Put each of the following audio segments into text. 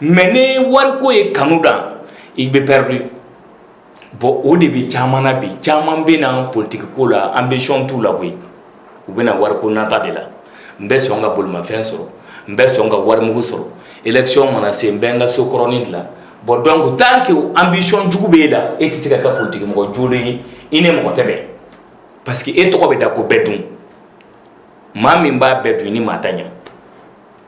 mais ni wariko ye kanu dan i bɛ perdu bon o de bɛ caman na bi caman bɛ na politiki ko la ambition t'u la koyi u bɛ na wari ko nata de la n bɛ sɔn ka bolomafɛn sɔrɔ n bɛ sɔn ka warimugu sɔrɔ élection mana se n bɛ n ka so kɔrɔnin dilan bon donc tant que ambition jugu bɛ e la e tɛ se ka kɛ politikimɔgɔ jɔlen ye i ni mɔgɔ tɛ bɛn parce que e tɔgɔ bɛ da ko bɛɛ dun maa min b'a bɛɛ dun ni maa ta ɲɛ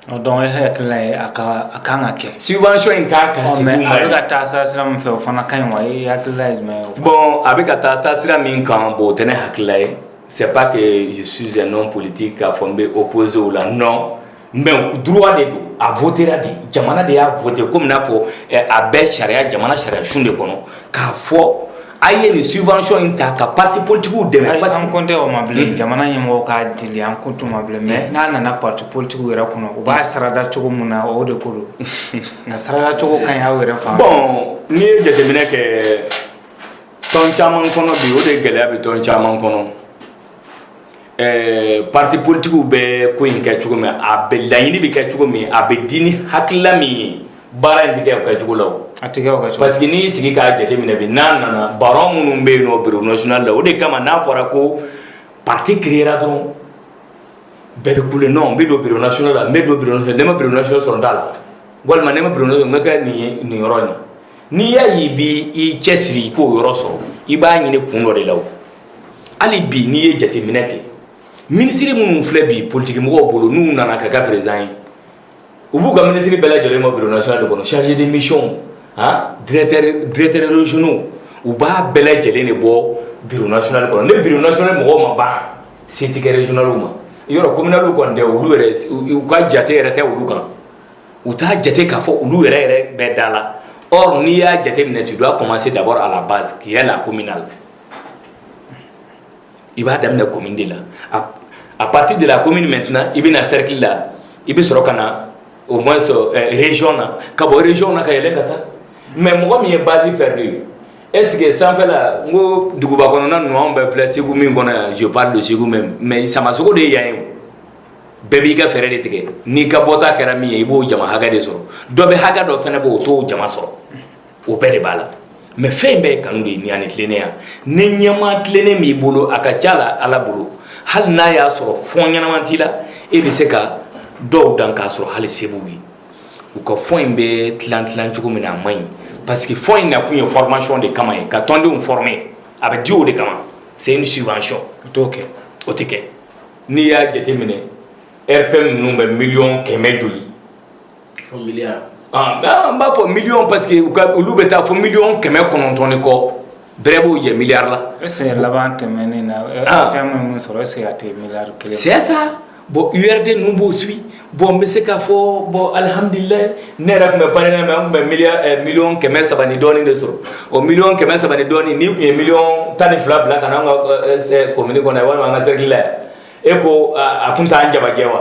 Donc e hakilila a ka kan ka kɛ subvention in kan ka sigi u ma a bɛ ka taa taa sira min fɛ o fana ka ɲi wa e hakilila ye jumɛn ye bon a bɛ ka taa taa sira min kan bon o tɛ ne hakilila ye c'est pas que je suis un homme politique k'a fɔ n bɛ opposé o la non mais droit de don a votera de jamana de y'a voté kɔmi n'a fɔ a bɛ sariya jamana sariya sun de kɔnɔ k'a fɔ A ye nin subvention in ta ka parti politique dɛmɛ, ayi an kan tɛ o ma bilen, jamana ɲɛmɔgɔ k'a dili an kan tɛ o ma bilen mais n'a nana parti politique yɛrɛ kɔnɔ u b'a sarada cogo min na o de ko don, a sarada cogo ka ɲi aw yɛrɛ fan fɛ, bon n'i ye jateminɛ kɛ tɔn caman kɔnɔ bi o de gɛlɛya bɛ tɔn caman kɔnɔ ɛɛ partis politiques bɛ ko in kɛ cogo min a bɛ laɲini bɛ kɛ cogo min a bɛ di ni hakilila min ye baara in tɛ kɛ o kɛ cogo la o. A tɛ kɛ o kɛ cogo la. Parce que n'i y'i sigi k'a jateminɛ bi n'a nana baron minnu bɛ yen nɔ bureau national la o de kama n'a fɔra ko parti créera dɔrɔn bɛɛ bɛ kule non n bɛ don bureau national la n bɛ don bureau national ni n ma bureau national sɔrɔ n t'a la walima ni n ma bureau national n bɛ kɛ nin ye nin yɔrɔ in na n'i y'a ye i b'i i cɛsiri i k'o yɔrɔ sɔrɔ i b'a ɲini kun dɔ de la o. hali bi n'i ye jateminɛ kɛ minisiri minnu filɛ bi politikimɔgɔw bolo n'u nana ka kɛ président ye u b'u ka minisiri bɛɛ lajɛlen ma bureau national de kɔnɔ chargé de mission han directeur directeur régionaux u b'a bɛɛ lajɛlen de bɔ bureau national kɔnɔ ni bureau national mɔgɔw ma ban se tɛ kɛ régionalw ma yɔrɔ communalw kɔni tɛ olu yɛrɛ u ka jate yɛrɛ tɛ olu kan u t'a jate k'a fɔ olu yɛrɛ yɛrɛ bɛ da la or n'i y'a jate minɛ tu dois commencer d'abord à la base qui est la communale i b'a daminɛ commune de la à partir de la commune maintenant i bɛ na cercle la i bɛ sɔrɔ ka na au moins région na ka bɔ région na ka yɛlɛ ka taa mais mɔgɔ min ye base perdu ye est-ce que sanfɛla n ko duguba kɔnɔna ninnu anw bɛɛ filɛ segu min kɔnɔ yan je parle de segu même mais samasogo de ye yan ye bɛɛ b'i ka fɛɛrɛ de tigɛ n'i ka bɔta kɛra min ye i b'o jama hakɛ de sɔrɔ dɔ bɛ hakɛ dɔ fana b' o t'o jama sɔrɔ o bɛɛ de b'a la mais fɛn in bɛɛ ye kanu de ye ani tilennenya ni ɲɛmaa tilennen b'i bolo a ka ca la ala bolo hali n'a y'a sɔrɔ fonds ɲɛnama t'i la e bɛ se ka dɔw dan k'a sɔrɔ hali se b'u ye u ka fonds in bɛ tilan tilan cogo min na a man ɲi parce que fonds in nakun ye formation de kama ye ka tɔndenw former a bɛ di o de kama c'est une subvention o t'o kɛ o tɛ kɛ n'i y'a jateminɛ RPM ninnu bɛ miliyɔn kɛmɛ joli n b'a fɔ miliyɔn parce que olu bɛ taa fo miliyɔn kɛmɛ kɔnɔntɔn ni kɔ bɛrɛ b'o jɛ miliyari la est-ce que laban tɛmɛnen na RPM ye min sɔrɔ est-ce que a tɛ miliyari kelen c'est ça bon URD ninnu b'o suivre bon n bɛ se k'a fɔ bon alihamdulilahi ne yɛrɛ tun bɛ PARENA mais an tun bɛ miliyɔn kɛmɛ saba ni dɔɔnin de sɔrɔ o miliyɔn kɛmɛ saba ni dɔɔnin n'i tun ye miliyɔn tan ni fila bila ka na an ka commune kɔnɔ walima an ka cercle la e ko a tun t'an jabajɛ wa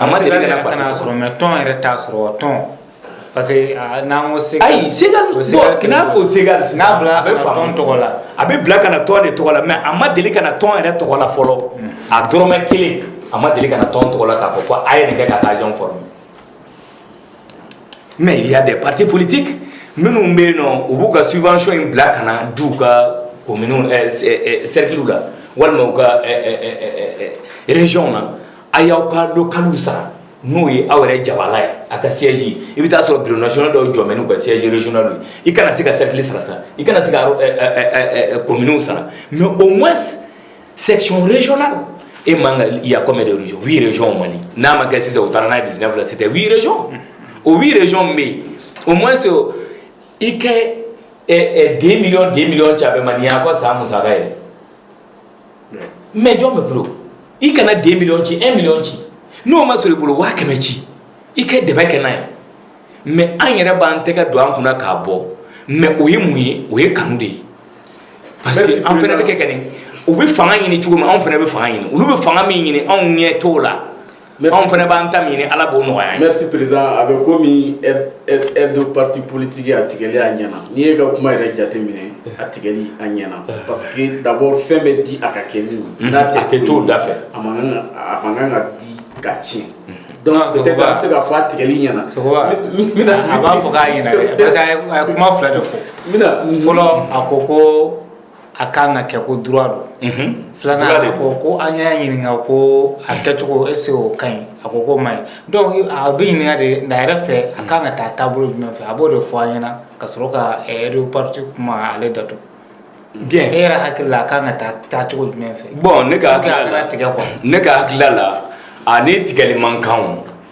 A ma deli ka na y'a sɔrɔ mais tɔn yɛrɛ t'a sɔrɔ wa tɔn parce que a n'an ko Segal ayi Segal o ye Segal bon n'an ko Segal sisan n'a bilara ka na tɔn tɔgɔ la a bɛ bila ka na tɔn de tɔgɔ la mais a ma deli ka na tɔn yɛrɛ tɔgɔ la fɔlɔ a dɔrɔmɛ 1 a ma deli ka na tɔn tɔgɔ la k'a fɔ ko a ye nin kɛ ka agent former mais il y a des partis politiques minnu bɛ yen nɔ u b'u ka subvention in bila ka na di u ka communes ɛɛ cercles la walima u ka ɛɛ ɛɛ régions na A y'aw ka don kalo sara n'o ye aw yɛrɛ jabala ye a ka sɛji i bɛ taaa sɔrɔ bidona dɔw jɔ mɛn' ka sɛjɛdon don i kana se ka selili sara sa i kana se kɔmiw sara mɛ o ma sɛcɔnna e ma ka yakɔmɛ de yɛrɛc yɛrɛcyɔn mali n'a ma kɛ sisan u taara n'a ye dusɛn fila sete wierec o wiereyɔn bɛ yen o ma se i ka den mi den mi ca bɛ ma nin' ko sa musa ye mais jɔn bɛ bolo i kana deux millions ci un million ci n'o ma sɔrɔ i bolo waa kɛmɛ ci i ka dɛmɛ kɛ n'a ye mais an yɛrɛ b'an tɛgɛ don an kunna k'a bɔ mais o ye mun ye o ye kanu de ye parce que an fana bɛ kɛ ka nin u bɛ fanga ɲini cogo min anw fana bɛ fanga ɲini olu bɛ fanga min ɲini anw ɲɛ t'o la anw fana b'an ta ɲini ala b'o nɔgɔya merci président a bɛ komi aide de parti politique a tigɛli a ɲɛna n'i ye ka kuma yɛrɛ jateminɛ a tigɛli a ɲɛna parce que d'abord fɛn bɛ di a ka kɛ min ye n'a tɛ t'o da fɛ a man kan a man kan ka di ka tiɲɛ donc peut-être a bɛ se ka fɔ a tigɛli ɲɛna a b'a fɔ k'a ɲɛna dɛ parce que a ye kuma fila de fɔ fɔlɔ a ko ko a ka kan ka kɛ ko droit don unhun filanan droit de don a ko ko an y'a ɲininka ko a kɛcogo est-ce que o ka ɲi a ko k'o man ɲi donc a bɛ ɲininka de a yɛrɛ fɛ a kan ka taa taabolo jumɛn fɛ a b'o de fɔ an ɲɛna ka sɔrɔ ka aide aux partis kuma ale datugu bien e yɛrɛ hakili la a kan ka taa taacogo jumɛn fɛ bon ne ka hakilila ne ka hakilila a ni tigɛli man kan o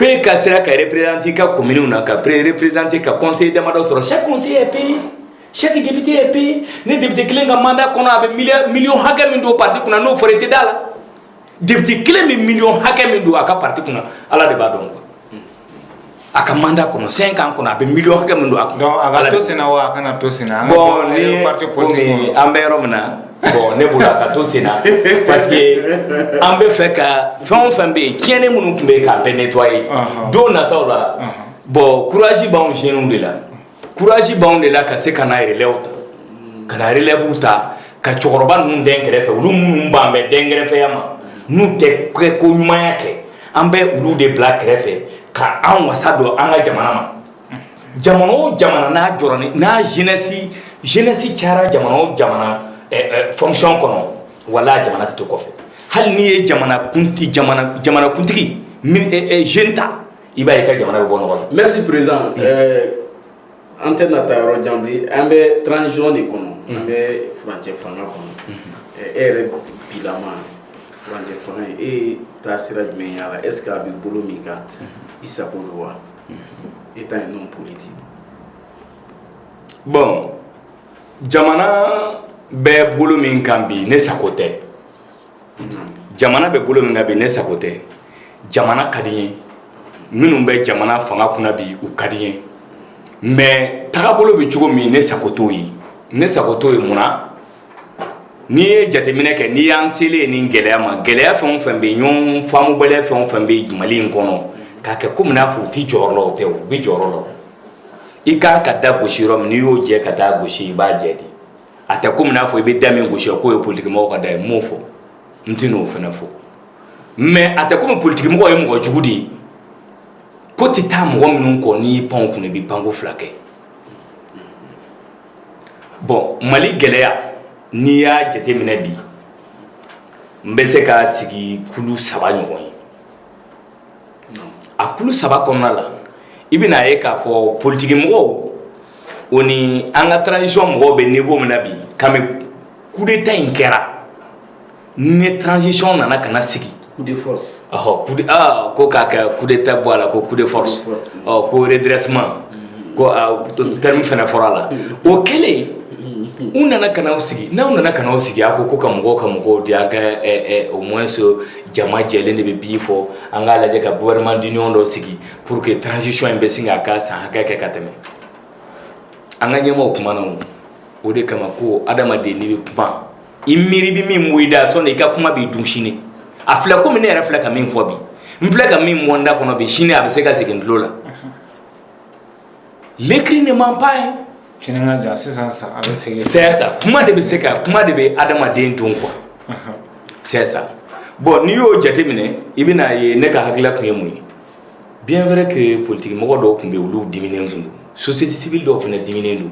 ko e ka sera ka représenter ka commune na ka représenter ka conseil damadɔ sɔrɔ chaque conseiller est payé chaque député est payé ne député kelen ka mandat kɔnɔ a bɛ million hakɛ min don parti kunna n'o fɔra i tɛ da la député kelen bɛ million hakɛ min don a ka parti kunna ala de b'a dɔn quoi a ka mandat kɔnɔ cinq ans kɔnɔ a bɛ million hakɛ min don a kunna donc a ka to senna wa a kana to senna an ka bɔ parti politique kɔnɔ bon ni an bɛ yɔrɔ min na bon ne bolo a ka to sen na parce que an bɛ fɛ ka fɛn o fɛn bɛ yen tiɲɛni minnu tun bɛ yen k'a bɛɛ nettoyer don nataw la bon courage b'anw jeunes de la courage b'anw de la ka se ka na relève ta ka na relève ta ka cɛkɔrɔba ninnu dɛn kɛrɛfɛ olu minnu b'an bɛ dɛn kɛrɛfɛya ma n'u tɛ kɛ ko ɲumanya kɛ an bɛ olu de bila kɛrɛfɛ ka an wasa don an ka jamana ma jamana o jamana n'a jɔra ni n'a jeunesse jeunesse cayara jamana o jamana fonction kɔnɔ wala jamana tɛ to kɔfɛ hali n'i ye jamana kuntigi jeune ta i b'a ye ka jamana bɛ bɔ nɔgɔ la merci président an tɛ na taa yɔrɔ jan bilen an bɛ transition de kɔnɔ an bɛ furancɛ fanga kɔnɔ e yɛrɛ bilama furancɛ fanga e ye taa sira jumɛn y'a la est-ce que a bɛ bolo min kan i sago don wa en tant qu'un homme politique. Bon, jamana bɛ bolo min kan bi ne sago tɛ. Jamana bɛ bolo min kan bi ne sago tɛ. Jamana ka di n ye. Minnu bɛ jamana fanga kunna bi u ka di n ye. Mais tagabolo bɛ cogo min ne sago t'o ye. Ne sago t'o ye mun na? N'i ye jateminɛ kɛ n'i y'an selen ye nin gɛlɛya ma gɛlɛya fɛn o fɛn bɛ yen ɲɔgɔn faamubaliya fɛn o fɛn bɛ yen mali in kɔnɔ k'a kɛ kɔmi n'a fɔ u tɛ jɔyɔrɔ la o tɛ u bɛ jɔyɔrɔ la i kan ka da gosi yɔrɔ min n'i y'o jɛ ka taa gosi i b'a jɛ de a tɛ kɔmi n'a fɔ i bɛ da min gosi k'o ye politikimɔgɔ ka da ye n m'o fɔ n tɛ n'o fana fɔ mɛ a tɛ kɔmi politikimɔgɔ ye mɔgɔ jugu de ye ko tɛ taa mɔgɔ minnu kɔ n'i pan o kun i bɛ panko fila kɛ bon mali gɛlɛya n'i y'a jateminɛ bi n bɛ se k'a sigi kulu saba ɲɔgɔn ye a kulu saba kɔnɔna la i bɛna a ye k'a fɔ politiki mɔgɔw o ni an ka transition mɔgɔw bɛ niveau min na bi kami coup d'état in kɛra ni transition nana ka na sigi coup de force ɔhɔ coup de ah ko k'a kɛ coup d'état bɔ a la ko coup de force ɔ ko redressement ko ah, terme fana fɔra a la o kɛlen u nana ka n'aw sigi n'aw nana ka n'aw sigi a ko ko ka mɔgɔw ka mɔgɔw di an ka au moins jama jɛlen de bɛ bi fɔ an k'a lajɛ ka gouvernement d'union dɔ sigi pour que transition in bɛ se k'a ka san hakɛ kɛ ka tɛmɛ an ka ɲɛmɔgɔw kumana o o de kama ko adamaden n'i bɛ kuma i miiri bɛ min bɔ i da sɔnni i ka kuma b'i dun sini a filɛ komi ne yɛrɛ filɛ ka min fɔ bi n filɛ ka min bɔ n da kɔnɔ bi sini a bɛ se ka segin tulo la l'écrit ne ment pas hein sini ka jan sisan sa a bɛ segin c'est ça kuma de bɛ se ka kuma de bɛ adamaden dun quoi c'est ça bon n'i y'o jateminɛ i bɛna ye ne ka hakilila tun ye mun ye bien vrai que politiki mɔgɔ dɔw tun bɛ yen olu diminen tun don société civile dɔw fana diminen don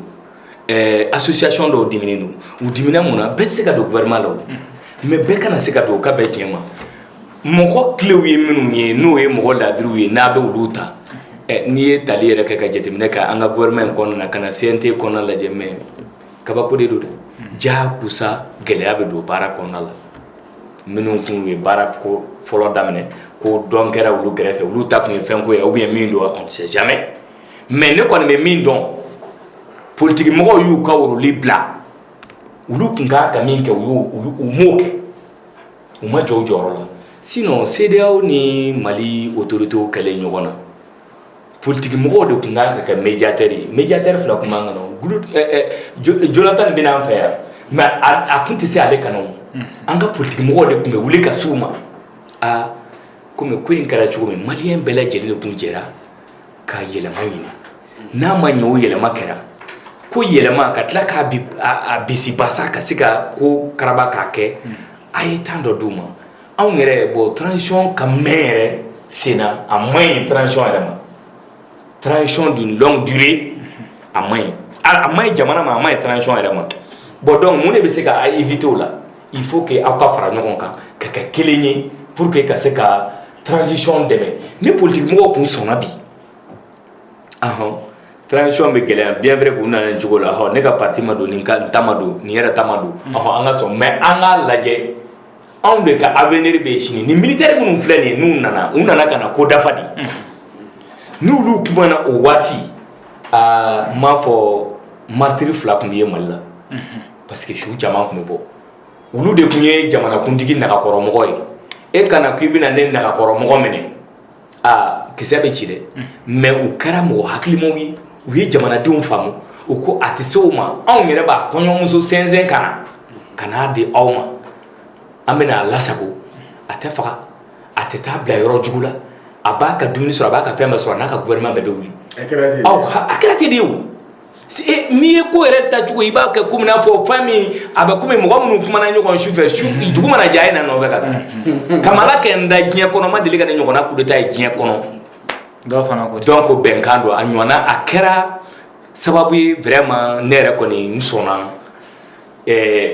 ɛɛ association dɔw diminen don u dimina mun na bɛɛ tɛ se ka don gouvernement la o mais bɛɛ kana se ka don o ka bɛn tiɲɛ ma mɔgɔ kilew ye minnu ye n'o ye mɔgɔ laadiriw ye n'a bɛ olu ta n'i ye tali yɛrɛ kɛ ka jateminɛ kɛ an ka gouvernement in kɔnɔna na ka na CNT kɔnɔna lajɛ mais kabako de don dɛ jaakusa gɛlɛya bɛ don baara kɔnɔna la minnu tun ye baara ko fɔlɔ daminɛ ko dɔn kɛra olu kɛrɛfɛ olu ta tun ye fɛn ko ye ou bien min don on ne sait jamais mais ne kɔni bɛ min dɔn politigimɔgɔw y'u ka woroli bila olu tun ka ka min kɛ u u m'o kɛ u ma jɔ u jɔyɔrɔ la sinon CEDEAO ni mali otoritew kɛlen ɲɔgɔn na politigimɔgɔw de tun kan ka kɛ médiateurs ye médiateurs fila tun man kan Jonathan bɛ na an fɛ yan mais a tun tɛ se ale ka na an ka politigimɔgɔw de tun bɛ wuli ka s'u ma aa komi ko in kɛra cogo min maliyɛn bɛɛ lajɛlen de tun jɛra ka yɛlɛma ɲini n'a ma ɲɛ o yɛlɛma kɛra ko yɛlɛma ka tila k'a a bisibasa ka se ka ko karaba k'a kɛ hmm. a ye temps dɔ d'u ma anw yɛrɛ bon transition ka mɛn yɛrɛ senna a man ɲi transition yɛrɛ ma transition d'une longue durée a man ɲi a man ɲi jamana ma a man ɲi transition yɛrɛ ma bon donc mun de bɛ se ka a éviter o la il faut que aw ka fara ɲɔgɔn kan ka kɛ kelen ye pour que ka se ka transition dɛmɛ ni politigimɔgɔ tun sɔnna bi transition bɛ gɛlɛya bien vrai que u nana nin cogo la ne ka parti ma don nin ta ma don nin yɛrɛ ta ma don an ka sɔn mais an k'a lajɛ anw de ka avenir bɛ sini ni militaire minnu filɛ nin n'u nana u nana ka na ko dafa de n'olu tun ma na o waati aa n m'a fɔ martyr fila tun bɛ ye mali la parce que su caman tun bɛ bɔ olu de tun ye jamanakuntigi nagakɔrɔmɔgɔ ye e ka na ko i bɛna ne nagakɔrɔmɔgɔ minɛ aa kisɛ bɛ ci dɛ mais u kɛra mɔgɔ hakilimaw ye u ye jamanadenw faamu u ko a tɛ se o ma anw yɛrɛ b'a kɔɲɔmuso sɛnsɛn ka na ka n'a di aw ma an bɛna a lasago a tɛ faga a tɛ taa bila yɔrɔ jugu la a b'a ka dumuni sɔrɔ a b'a ka fɛn bɛɛ sɔrɔ a n'a ka gouvernement bɛɛ bɛ wuli a kɛra ten de ye o. n'i ye ko yɛrɛ taacogo i b'a kɛ ko n'a fɔ fɛn min a bɛ kɔmi mɔgɔ minnu kumana ɲɔgɔn su fɛ su dugu mana jɛ a ye na nɔfɛ ka taa ka ala kɛ n da diɲɛ kɔnɔ ma deli ka nin ɲɔgɔnna coup d'état ye diɲɛ kɔnɔ donc bɛnkan don a ɲɔgɔnna a kɛra sababu ye vraiment ne yɛrɛ kɔni n sɔnna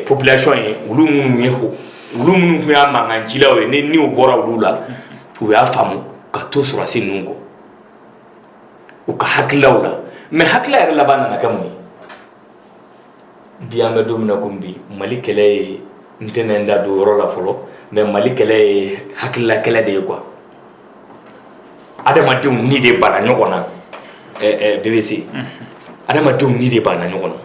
population ye olu minnu ye ko olu minnu tun y'a mankancilaw ye ni o bɔra olu la u y'a faamu ka to sɔrɔsi ninnu kɔ u ka hakililaw la mais hakilila yɛrɛ laban nana kɛ mun ye bi an bɛ don min na komi bi mali kɛlɛ ye n tɛna n da don yɔrɔ la fɔlɔ mais mali kɛlɛ ye hakilila kɛlɛ de ye quoi adamadenw ni de banna ɲɔgɔn na bbc adamadenw ni de banna ɲɔgɔn na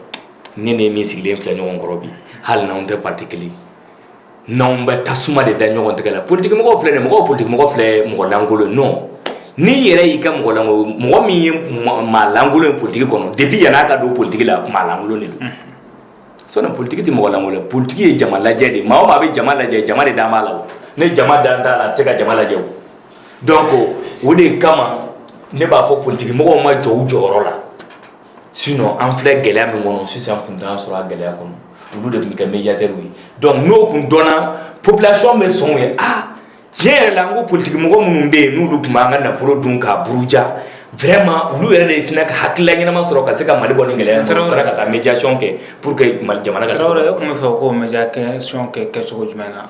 ne ni min sigilen filɛ ɲɔgɔn kɔrɔ bi hali n'anw tɛ parti kelen N'anw bɛ tasuma de da ɲɔgɔn tɛgɛ la politigimɔgɔ filɛ mɔgɔ politigimɔgɔ filɛ mɔgɔlankolon non n'i yɛrɛ y'i kɛ mɔgɔlankolon mɔgɔ min ye maalankolon ye politigi kɔnɔ depuis yann'a ka don politigi la maalankolon de don sinon politigi tɛ mɔgɔlankolon politigi ye jama lajɛ de maa o maa bɛ jama lajɛ jama de dalen b'a la ni jama dalen t'a la a tɛ se ka jama lajɛ donc o de kama ne b'a fɔ politigimɔgɔw ma jɔ u jɔyɔrɔ la sinon an filɛ gɛlɛya min kɔnɔ sisan tun t'an sɔrɔ a gɛlɛya kɔnɔ olu de tun kɛ médiateur ye donc n'o tun dɔnna population bɛ sɔn u ye aa tiɲɛ yɛrɛ la ko politigimɔgɔ minnu bɛ yen n'olu tun m'an ka nafolo dun k'a buruja vraiment olu yɛrɛ de sina ka hakilila ɲɛnama sɔrɔ ka se ka mali bɔ nin gɛlɛya kɔnɔ ka taa médiation kɛ pour que jamana ka tun b'a fɛ ko médiation kɛ cogo jumɛn na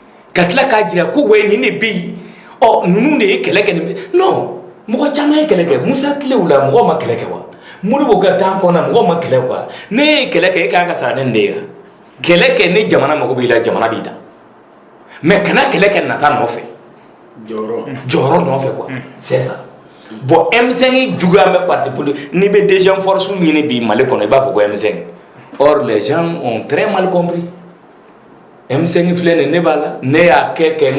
ka tila k'a jira ko wɛ nin de bɛ yen ɔ ninnu de ye kɛlɛ kɛ nin non mɔgɔ caman ye kɛlɛ kɛ musa tilew la mɔgɔ ma kɛlɛ kɛ wa Modibo ka temps kɔnɔ mɔgɔ ma kɛlɛ kɛ wa ne ye kɛlɛ kɛ e ka kan ka sara ne nin de ye kɛlɛ kɛ ni jamana mago b'i la jamana b'i ta mais kana kɛlɛ kɛ nata nɔfɛ jɔyɔrɔ nɔfɛ quoi c'est ça bon M5 juguya bɛ parti politique n'i bɛ deuxième force ɲini bi Mali kɔnɔ i b'a fɔ ko M5 or les gens ont très mal compris M5 filɛ nin ne b'a la ne y'a kɛ kɛ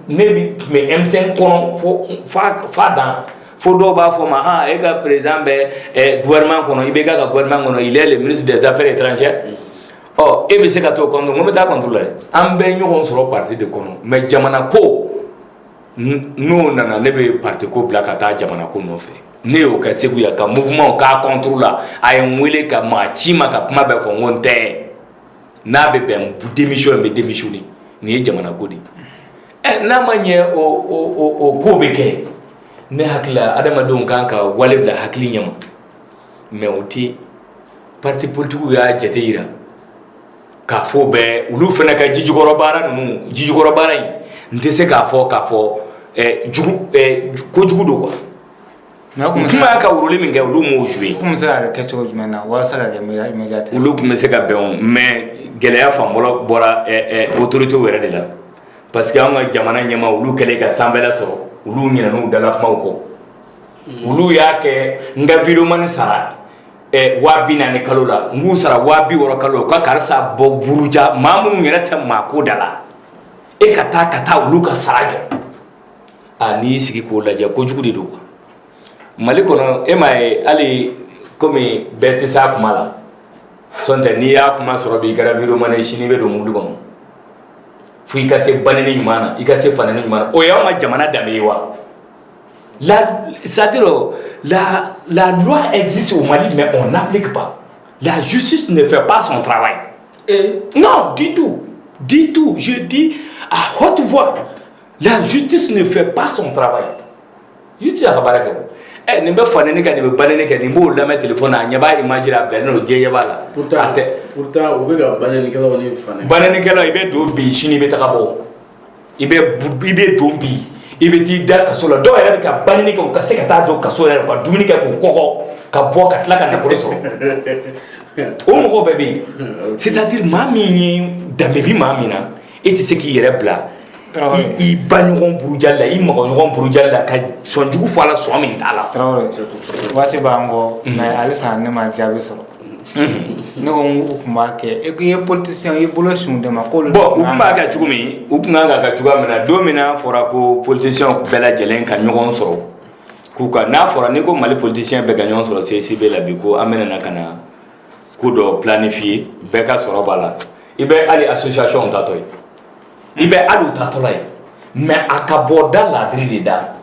ne bɛ tun bɛ M5 kɔnɔ fa dan fo dɔw b'a fɔ ma h e ka président bɛ gouvernement kɔnɔ IBK ka gouvernement kɔnɔ il est ministre des affaires étrangères e bɛ se ka t'o contre n ko n bɛ taa contre la an bɛ ɲɔgɔn sɔrɔ parti de kɔnɔ mais jamana ko n'o nana ne bɛ parti ko bila ka taa jamana ko nɔfɛ ne y'o kɛ segu yan ka mouvement k'a contre la a ye n weele ka maa ci ma ka kuma bɛɛ fɔ n ko n tɛ n'a bɛ bɛn démission n bɛ démissionner nin ye jamana ko de ɛ n'a ma ɲɛ o ko bɛ kɛ ne hakili la adamadenw kan ka wale bila hakili ɲɛma mais o tɛ parti politigiw y'a jate jira k'a fɔ bɛɛ olu fana ka jijukɔrɔ baara ninnu jijukɔrɔ baara in n tɛ se k'a fɔ k'a fɔ kojugu don quoi kuma y'a ka rôle min kɛ olu m'o jouer komi se ka kɛ cogo jumɛn na walasa ka kɛ média médiateur olu tun bɛ se ka bɛn o mais gɛlɛya fan fɔlɔ bɔra autorité yɛrɛ de la parce que an ka jamana ɲɛmaa olu kɛlen ka sanfɛla sɔrɔ olu ɲinɛn'u dala kumaw kɔ olu y'a kɛ n ka videomani sara waa bi naani kalo la n k'u sara waa bi wɔɔrɔ kalo la u ka karisa bɔ buruja maa minnu yɛrɛ tɛ maa ko da la e ka taa ka taa olu ka sara jɔ a n'i sigi k'o lajɛ ko jugu de don quoi mali kɔnɔ e m'a ye hali komi bɛɛ tɛ se a kuma la sɔntɛ n'i y'a kuma sɔrɔ bi i kɛra videomani ye sini i bɛ don mɔbili kɔnɔ fo i ka se baneni ɲuman na i ka se faneni ɲuman na o y'an ka jamana danbe ye wa c'est à dire la loi existe au Mali mais on n'applique pas la justice ne fait pas son travail non du tout du tout je dis à haute voix La justice ne fait pas son travail. Justice t'a ka baara kɛ o. Ɛ nin bɛ faneni kɛ nin bɛ baneni kɛ nin b'o lamɛn téléphone na a ɲɛ b'a image la a bilalen don diɲɛ ɲɛ b'a la. Pourtant a tɛ pourtant u bɛ ka banenikɛlaw ni fanɛ banenikɛlaw i bɛ don bi sini i bɛ taga bɔ i bɛ i bɛ don bi i bɛ t'i da kaso la dɔw yɛrɛ bɛ ka baneni kɛ u ka se ka taa jɔ kaso yɛrɛ ka dumuni kɛ k'u kɔgɔ ka bɔ ka tila ka nafolo sɔrɔ o mɔgɔw bɛɛ bɛ yen c'est à dire maa min ye danbe bɛ maa min na e tɛ se k'i yɛrɛ bila i ba ɲɔgɔn burujali la i mɔgɔ ɲɔgɔn burujali la ka sɔn jugu fɔ a la sɔn min t'a la waati b'an kɔ mais halisa ne ma jaabi sɔrɔ ne ko u tun b'a kɛ e ye politisiyɛn i bolo sin de ma k'olu bon u tun b'a kɛ cogo min u tun kan ka kɛ cogoya min na don min n'a fɔra ko politisiyɛnw bɛɛ lajɛlen ka ɲɔgɔn sɔrɔ k'u ka n'a fɔra ni ko mali politisiyɛn bɛɛ ka ɲɔgɔn sɔrɔ CICB la bi ko an bɛna na ka na ko dɔ planifier bɛɛ ka sɔrɔ b'a la i bɛ hali association taatɔ ye i bɛ hali u taatɔla ye mais a ka bɔ da leader de da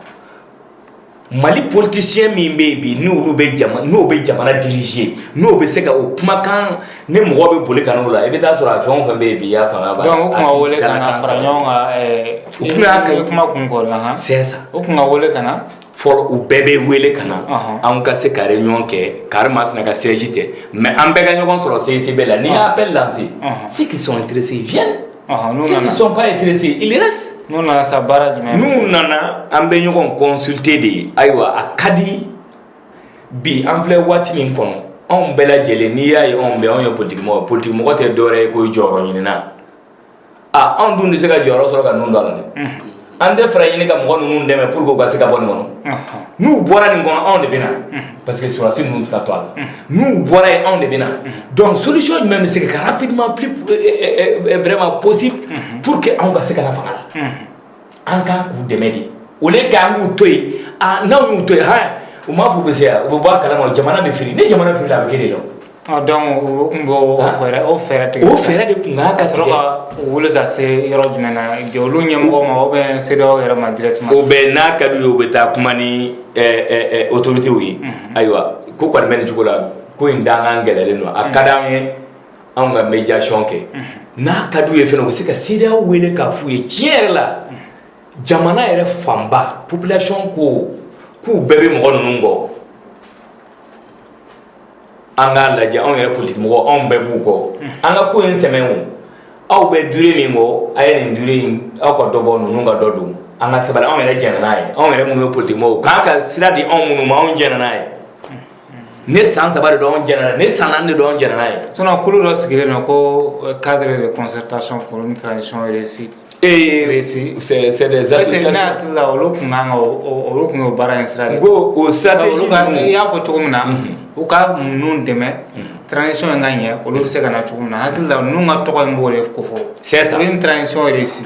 mali politisiyɛn min bɛ yen bi n'olu bɛ jama n'o bɛ jamana diriger n'o bɛ se ka o kumakan ni mɔgɔ bɛ boli ka n'o la i bɛ taa sɔrɔ a fɛn o fɛn bɛ yen bi i y'a faamuya ba donc o tun ka wele ka na fara ɲɔgɔn kan u tun y'a kɛ kuma kun kɔrɔ la han c'est ça o tun ka wele ka na fɔlɔ u bɛɛ bɛ wele ka na an ka se ka réunion kɛ karimasina ka siège tɛ mais an bɛɛ ka ɲɔgɔn sɔrɔ CICB la n'i y'a appel lancer ceux qui sont intéressés viennent ceux qui ne sont pas intéressés ils restent n'u nana sa baara jumɛn n'u nana an bɛ ɲɔgɔn consulter de ye ayiwa a ka di bi an filɛ waati min kɔnɔ anw bɛɛ lajɛlen n'i y'a ye anw bɛ anw ye politikimɔgɔ politikimɔgɔ tɛ dɔwɛrɛ ye ko jɔyɔrɔ ɲinin aa anw dun tɛ se ka jɔyɔrɔ sɔrɔ ka ninnu to a la dɛ an tɛ fɛɛrɛ ɲini ka mɔgɔ ninnu dɛmɛ pour que u ka se ka bɔ nin kɔnɔ n'u bɔra nin kɔnɔ anw de bɛ na parce que sɔrɔdasi ninnu tɛna to a la n'u bɔra yen anw de bɛ na donc solution jumɛn bɛ se ka kɛ rapidement plus vraiment possible pour que anw ka se ka na fanga la. an kan k'u dɛmɛ de au lieu que an k'u to yen n'an y'u to yen u m'a fɔ u bɛ se yan u bɛ bɔ a kalama jamana bɛ firi ni jamana firila a bɛ kɛ de la donc o tun bɛ o fɛɛrɛ tigɛ o fɛɛrɛ de tun kan ka sɔrɔ ka wuli ka se yɔrɔ jumɛn na olu ɲɛmɔgɔ ma ou bien CEDEAO yɛrɛ ma directement o bɛ n'a ka d'u ye u bɛ taa kuma ni autorités ye ayiwa ko kɔni bɛ nin cogo la ko in dankan gɛlɛyalen don a ka d'an ye anw ka médiation kɛ n'a ka d'u ye fana u bɛ se ka CEDEAO wele k'a f'u ye tiɲɛ yɛrɛ la jamana yɛrɛ fanba population ko k'u bɛɛ bɛ mɔgɔ ninnu kɔ an k'a lajɛ anw yɛrɛ politiki mɔgɔ anw bɛɛ b'u kɔ an ka ko in sɛmɛ o aw bɛ durée min kɔ a ye nin durée in aw ka dɔ bɔ ninnu ka dɔ don an ka sabali anw yɛrɛ jɛnna n'a ye anw yɛrɛ minnu ye politiki mɔgɔw k'an ka sira di anw minnu ma anw jɛnna n'a ye ni san saba de don an jɛnna n'a ye ni san naani de don an jɛnna n'a ye sinon kulu dɔ sigilen don ko euh, cadre de concertation pour une transition réussie ee réussie c'est c'est des associations ne hakili la olu kun kan ka olu kun y'o baara in sira de ko o stratégie i y'a fɔ cogo min na mhm. u ka ninnu dɛmɛ mhm. transition in ka ɲɛ olu bɛ se ka na cogo min na hakili la ninnu ka tɔgɔ in b'o de ko fɔ c'est ça une transition réussie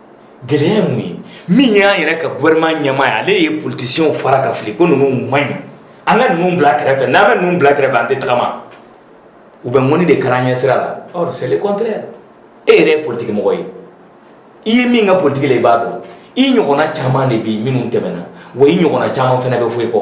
gɛlɛya ye mun ye min y'an yɛrɛ ka gouvernement ɲɛmaa ye ale ye politiciens fara ka fili ko ninnu man ɲi an ka ninnu bila kɛrɛfɛ n'an bɛ ninnu bila kɛrɛfɛ an tɛ tagama u bɛ ŋɔni de kari an ɲɛ sira la or c'est le contraire e yɛrɛ ye politiki mɔgɔ ye i ye min kɛ politiki la i b'a dɔn i ɲɔgɔnna caman de bɛ yen minnu tɛmɛna wa i ɲɔgɔnna caman fana bɛ fɔ i kɔ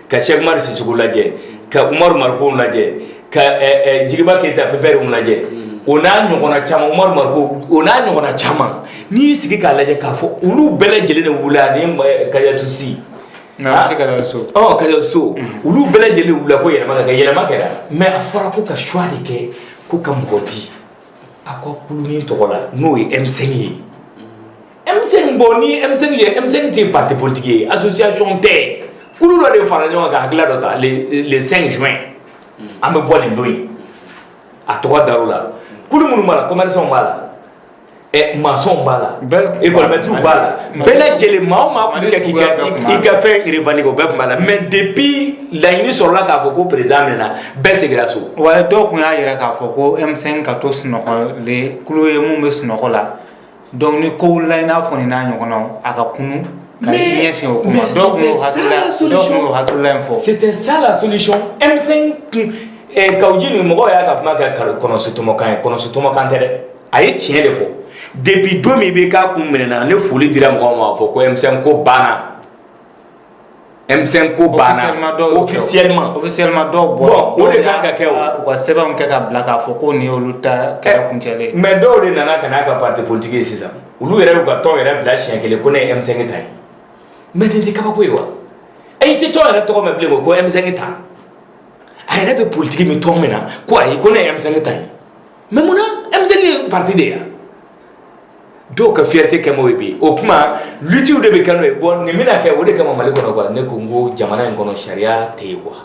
ka sɛki umaru sisɔkɔ lajɛ ka umaru mariko lajɛ ka jigiba keyita PPR lajɛ o n'a ɲɔgɔnna caman umaru mariko o n'a ɲɔgɔnna caman n'i y'i sigi k'a lajɛ k'a fɔ olu bɛɛ lajɛlen de wulila ani kajatu si kajatu so olu bɛɛ lajɛlen wulila ko yɛlɛma ka kɛ yɛlɛma kɛra mais a fɔra ko ka choix de kɛ ko ka mɔgɔ di a ko kulu nin tɔgɔ la n'o ye M5 ye M5 bon ni M5 ye M5 tɛ parti politique ye association tɛ kulu dɔ de fara ɲɔgɔn kan ka hakilila dɔ ta le 5 juin an bɛ bɔ nin don in a tɔgɔ dar'o la kulu minnu b'a la commerçants b'a la ɛ maçons b'a la économistes b'a la bɛɛ lajɛlen maa o maa tun bɛ ka k'i ka i ka fɛn revendiquer o bɛɛ tun b'a la mais depuis laɲini sɔrɔla k'a fɔ ko président minɛna bɛɛ seginna so. wa dɔw tun y'a jira k'a fɔ ko M5 ka to sunɔgɔlen kulu ye min bɛ sunɔgɔ la. Donc ni kow wulila i n'a fɔ nin n'a ɲɔgɔnnaw a ka kunun ka i ɲɛsin o ko ma dɔw tun y'o hakilila dɔw tun y'o hakilila in fɔ c'était ça la solution M5 eh, Kawu Jim ni mɔgɔw y'a ka kuma kɛ kɔnɔsi tɔmɔkan ye kɔnɔsi tɔmɔkan tɛ dɛ a ye tiɲɛ de fɔ depuis don min IBK kun minɛna ni foli dira mɔgɔw ma fɔ ko M5 ko banna M5 ko banna officiellement dɔw bɔra o de kan ka kɛ u ka sɛbɛn kɛ ka bila k'a fɔ ko nin olu ta kɛra kuncɛ mais dɔw de nana ka n'a ka parti politique ye sisan olu yɛrɛ y'u ka tɔn yɛrɛ bila siɲɛ kelen ko ne ye M5 ta ye mais nin tɛ kabako ye wa e tɛ tɔn yɛrɛ tɔgɔ mɛn bilen ko M5 ta a yɛrɛ bɛ politique min tɔn min na ko ayi ko ne ye M5 ta ye mais munna M5 ye parti de ye dɔw ka fierté kɛ m'o ye bi o tuma lutte de bɛ kɛ n'o ye bon nin bɛna kɛ o de kama Mali kɔnɔ quoi ne ko n ko jamana in kɔnɔ sariya tɛ yen quoi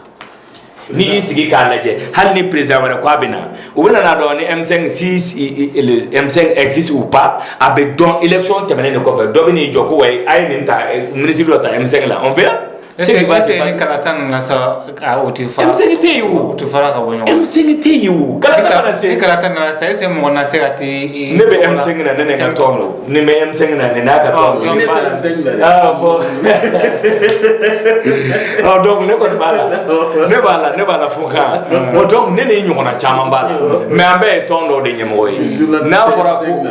n'i y'i sigi k'a lajɛ hali ni président wɛrɛ k'a bɛ na u bɛna n'a dɔn ni M5 si le M5 existe ou pas a bɛ dɔn élection tɛmɛnen de kɔfɛ dɔ bɛ n'i jɔ ko wayi a ye nin ta ministre dɔ ta M5 la on verra E tɛ yen tɛ yen ka tɔn ne kɔni b'a la ne b'a la ne b'a la fo ne ɲɔgɔn caman b'a la mɛ an bɛɛ ye tɔn dɔ de ɲɛmɔgɔ ye n'a fɔra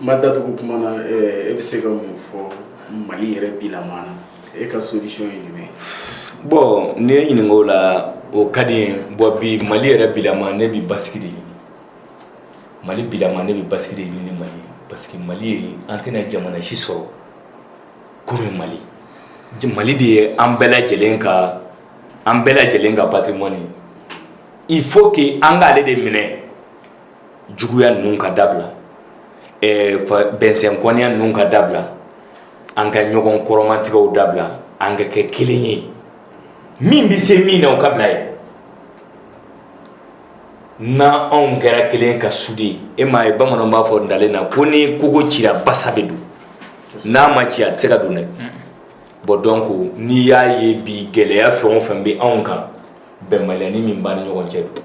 Ma datugu kuma na e bɛ se ka mun fɔ mali yɛrɛ bilama na e ka solution ye jumɛn bon n'i ye n ɲininka o la o ka di n ye bon bi mali yɛrɛ bilama ne bɛ basigi de ɲini mali bilama ne bɛ basigi de ɲini mali parce que mali ye an tɛna jamana si sɔrɔ komi mali mali de ye an bɛɛ lajɛlen ka an bɛɛ lajɛlen ka patrimoine il faut qu'an ka ale de minɛ juguya ninnu ka dabila bɛnsɛnkɔniya ninnu ka dabila an ka ɲɔgɔn kɔrɔmatigɛw dabila an ka kɛ kelen ye min bɛ se min na o ka bila ye n' anw kɛra kelen ka souder e m'a ye bamanan b'a fɔ ntalen na ko ni kogo cira basa bɛ don n'a ma ci a tɛ se ka don dɛ bon donc n'i y'a ye bi gɛlɛya fɛn o fɛn bɛ anw kan bɛnbaliyanin min b'an ni ɲɔgɔn cɛ don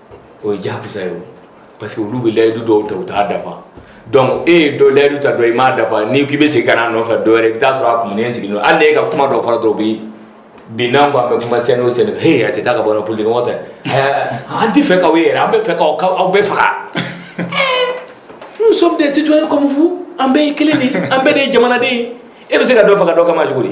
o ye jakusa ye parce que olu bɛ layidu dɔw ta u t'a dafa donc e ye dɔ layidu ta dɔ i m'a dafa n'i k'i bɛ segin ka na nɔfɛ dɔwɛrɛ i bɛ t'a sɔrɔ a kumunen sigilen don hali n'e ka kuma dɔ fɔra dɔrɔn bi bi n'an ko an bɛ kuma sen o sen he a tɛ taa ka bɔ politique mɔgɔ tɛ an t'a fɛ k'aw ye yɛrɛ an b'a fɛ k'aw aw bɛɛ faga nous sommes des citoyens comme vous an bɛɛ ye kelen de ye an bɛɛ de ye jamanaden ye e bɛ se ka dɔ faga dɔ kama cogo di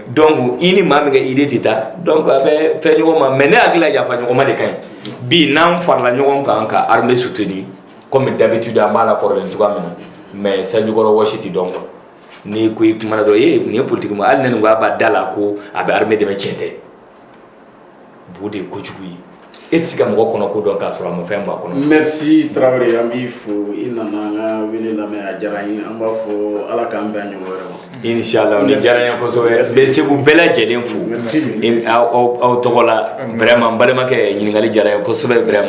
donc i ni maa min ka idée tɛ taa donc a bɛ fɛn ɲɔgɔn ma mais ne hakili la yafa ɲɔgɔn ma de ka ɲi bi n'an farala ɲɔgɔn kan ka armée soutenir comme d'habitude an b'a la kɔrɔlen cogoya min na mais sanjikɔrɔ wɔsi tɛ dɔn quoi n'i ko i kumana dɔrɔn ee nin ye politique ma hali ne nin ko a b'a da la ko a bɛ armée dɛmɛ tiɲɛ tɛ bo de ye kojugu ye e tɛ se ka mɔgɔ kɔnɔ ko dɔn k'a sɔrɔ a ma fɛn b'a kɔnɔ merci traoré an b'i fo i nana an ka wele lamɛn a diyara an ye an b'a fɔ ala k'an bɛn a ɲɔgɔn wɛrɛ ma inshallah nin diyara n ye kosɛbɛ n bɛ segu bɛɛ lajɛlen fo aw tɔgɔ la vraiment n balimakɛ ɲininkali diyara n ye kosɛbɛ vraiment